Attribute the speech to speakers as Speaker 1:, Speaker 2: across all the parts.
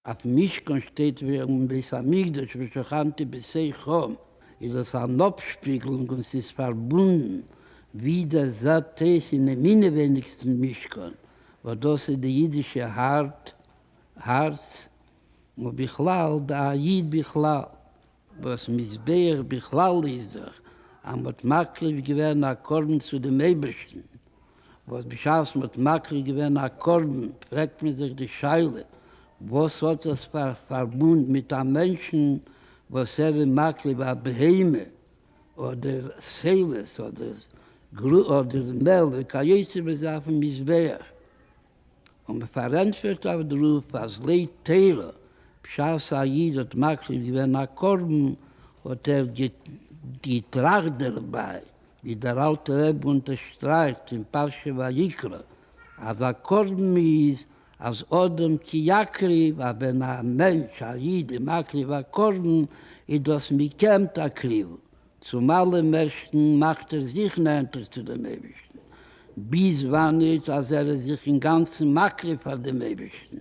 Speaker 1: אויף משכן שטייט ווערן בית המקדש ושכנתי בסכו, איז עס אן אפשפיגלונג און ס'איז פארבונדן ווי דער ז ט איז אינעם אינעווייניגסטן משכן, וואס דאס איז די אידישע הארץ, און בכלל די א י בכלל, וואס מזבח בכלל איז דאך אז מען האט מקריב געווען א קרבן צו דעם אייבערשטן, וואס בשעת מען האט מקריב געווען א קרבן פרעגט מען זיך די שאלה, וואס האט עס פאר פארבונד מיט א מענטשן וואס ער איז מקריב א בהמה אדער סעלעס אדער מעל וכיוצא בזה אויפן מזבח? און מען פארענטפערט אויף דערויף אז לית תירא, בשעת א איד האט מקריב געווען א קרבן האט ער געטראכט דערביי, ווי דער אלטער רבי אונטערשטרייכט אין פרשה ויקרא, אז א קרבן איז אז אדם כי יקריב, אז ווען א מענטש, א איד, איז מקריב א קרבן איז דאס מקיים את הקריבה, צום אלעם מערסטן מאכט ער זיך נענטער צו דעם אייבערשטן, ביז וואן איז אז ער איז זיך אינגאנצן מקריב פאר דעם אייבערשטן,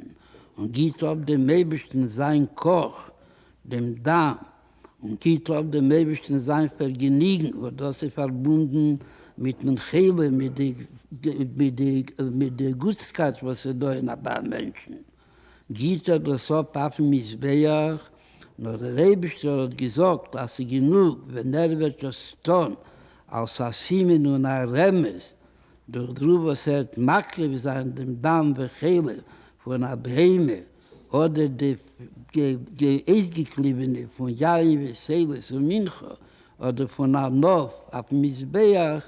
Speaker 1: און גיט אפ דעם אייבערשטן זיין כח, דעם דם, און גיט אפ דעם אייבערשטן זיין פארגעניגן, וואס דאס איז פארבונדן מיט דעם חלום, מיט די גוטסקייט וואס איז דא אין א ביי א מענטשן. גיט ער דאס אפ אויפן מזבח, נאר דער אייבישטער האט געזאגט אז ס'איז גענוג ווען ער וועט דאס טון אלס א סימן און א רמז דורך דרא וואס ער וועט מקריב זיין דעם דם וחלב פון א בהמה אדער די אויסגעקליבענע פון יין וסעילות און מנחה אדער פון א נאף אויפן מזבח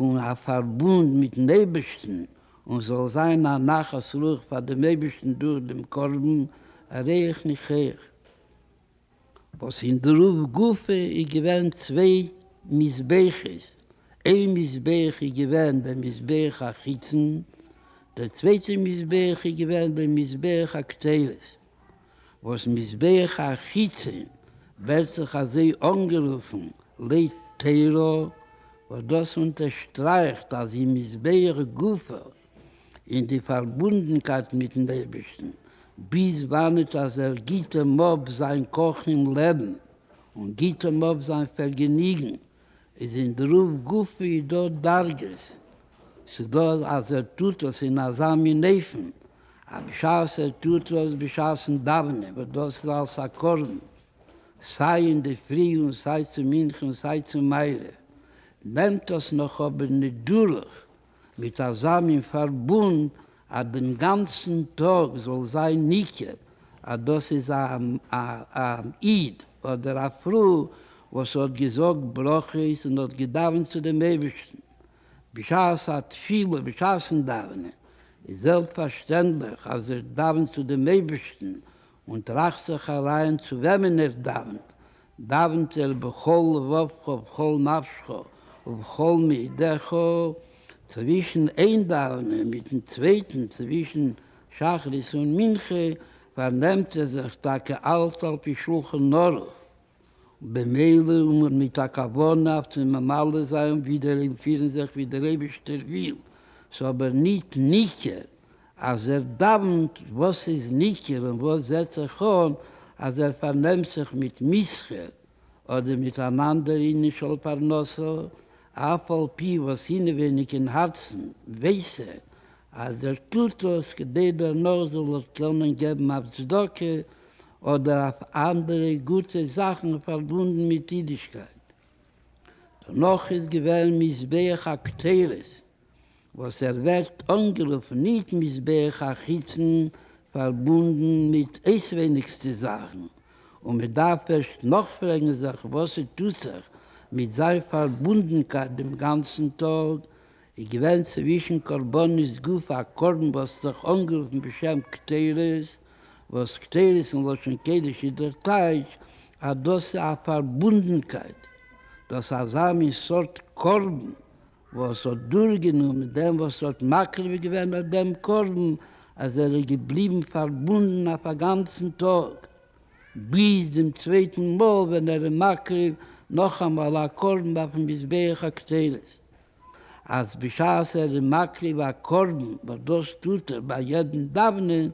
Speaker 1: און א פארבונד מיטן אייבערשטן, און זאל זיין א נחת רוח פאר דעם אייבערשטן דורך דעם קרבן ריח ניחוח, וואס אין די רוף גופא איז געווען צוויי מזבחות, איין מזבח איז געווען דער מזבח החיצון, דער צווייטער מזבח איז געווען דער מזבח הכתרת. וואס מזבח החיצון ווערט זיך אזוי אנגערופן לית תירא, וואס דאס אונטערשטרייכט אז אין מזבח גופא אין די פארבונדנקייט מיטן אייבערשטן, ביז וואנעט אז ער גיט אים אפ זיין כח און לעבן, און גיט אים אפ זיין פערגעניגן, איז אין דרוב גופי דא דרגות, ס'איז דא אז ער טוט עס אין אזא מין אופן אז בשעת ער טוט עס בשעת'ן דאווענען וואס דאס איז אלס א קרבן סיי אינדערפרי און סיי צו מנחה און סיי צו מעריב נעמט עס נאך אבער נידארוך מיט אזא מין פארבונד אז דעם גאנצן טאג זאל זיין ניכר אז דאס איז א איד אדער א פרוי וואס האט געזאגט ברכות און האט געדאווענט צו דעם אייבערשטן בשעת התפילה, בשעת'ן דאווענען איז זעלבסט פארשטענדליך אז ער דאווענט צו דעם אייבערשטן און טראכט זיך אריין צו וועמען ער דאווענט, דאווענט ער בכל לבבך ובכל נפשך ובכל מאידך, צווישן איין דאווענען מיטן צווייטן, צווישן שחרית און מנחה, פארנעמט ער זיך טאקע אלץ על פי שלחן ערוך. במילא און מיט א כוונה אויף צו ממלא זיין ווידער און פירן זיך ווי דער אייבישטער וויל, ס'אבער ניט ניכר אז ער דאווענט, וואס איז ניכר און וואס זעט זיך אן אז ער פארנעמט זיך מיט מסחר אדער מיט אן אנדער ענין של פרנסה, אף על פי וואס אינעווייניג אין הארצן ווייס ער אז ער טוט דאס כדי דערנאך זאל ער קענען געבן אויף צדקה אדער אויף אנדערע גוטע זאכן פארבונדן מיט אידישקייט. דערנאך איז געווען מזבח הקטורת, וואס ער ווערט אנגערופן ניט מזבח החיצון, פארבונדן מיט אויסווייניגסטע זאכן, און מען דארף ערשט נאכפרעגן זיך וואס ס'טוט זיך מיט זיין פארבונדנקייט דעם גאנצן טאג, איז געווען צווישן קרבנות גופא א קרבן וואס האט זיך אנגערופן בשם קטורת, וואס קטורת אין לשון קודש איז דער טייטש אז דאס איז א פארבונדנקייט, דאס אזא מין סארט קרבן וואס האט דורכגענומען דעם וואס האט מקריב געווען אט דעם קרבן אז ער איז געבליבן פארבונדן אויף א גאנצן טאג, ביז דעם צווייטן מאל ווען ער איז מקריב נאכאמאל א קרבן אויפן מזבח הקטורת. אז בשעת ער איז מקריב א קרבן, וואס דאס טוט ער ביי יעדן דאווענען,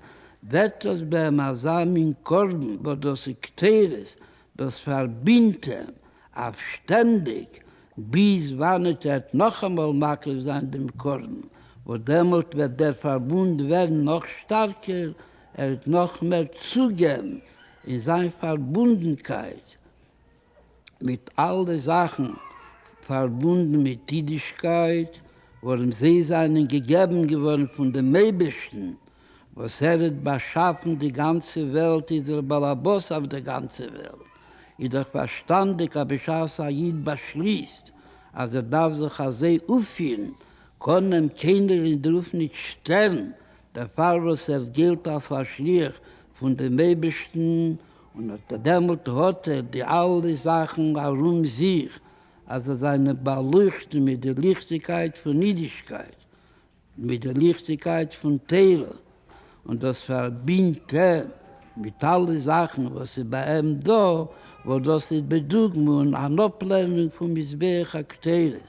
Speaker 1: ווערט דאס ביי אים אזא מין קרבן וואס דאס איז קטורת, דאס פארבינדט אים אויף שטענדיג, ביז וואנעט ער וועט נאכאמאל מקריב זיין דעם קרבן, וואס דעמאלט וועט דער פארבונד ווערן נאך שטארקער, ער וועט נאך מער צוגעבן אין זיין פארבונדנקייט. מיט אלע זאכן פארבונדן מיט אידישקייט, ווארום זיי זיינען געגעבן געווארן פון דעם אייבערשטן, וואס ער האט באשאפן די גאנצע וועלט, איז דער באלעבאס אויף דער גאנצער וועלט, איז דאך פארשטאנדיק אז בשעת א איד באשליסט אז ער דארף זיך אזוי אויפפירן, קען אים קיינער אין דר'וועלט ניט שטערן, דערפאר וואס ער גילט אלס א שליח פון דעם אייבערשטן, און אָט דעמאָלט האָט ער די אַלע זאַכן אַרום זיך, אַז זיי זײַנען באַלויכטן מיט דער ליכטיקייט פֿון ייִדישקייט, מיט דער ליכטיקייט פֿון תּורה, און דאָס פֿאַרבינדט אים מיט אַלע זאַכן, וואָס איז בײַ אים דאָ, וואָס דאָס איז, בדוגמא, אַן אָפּלערנונג פֿון מזבח הקטורת.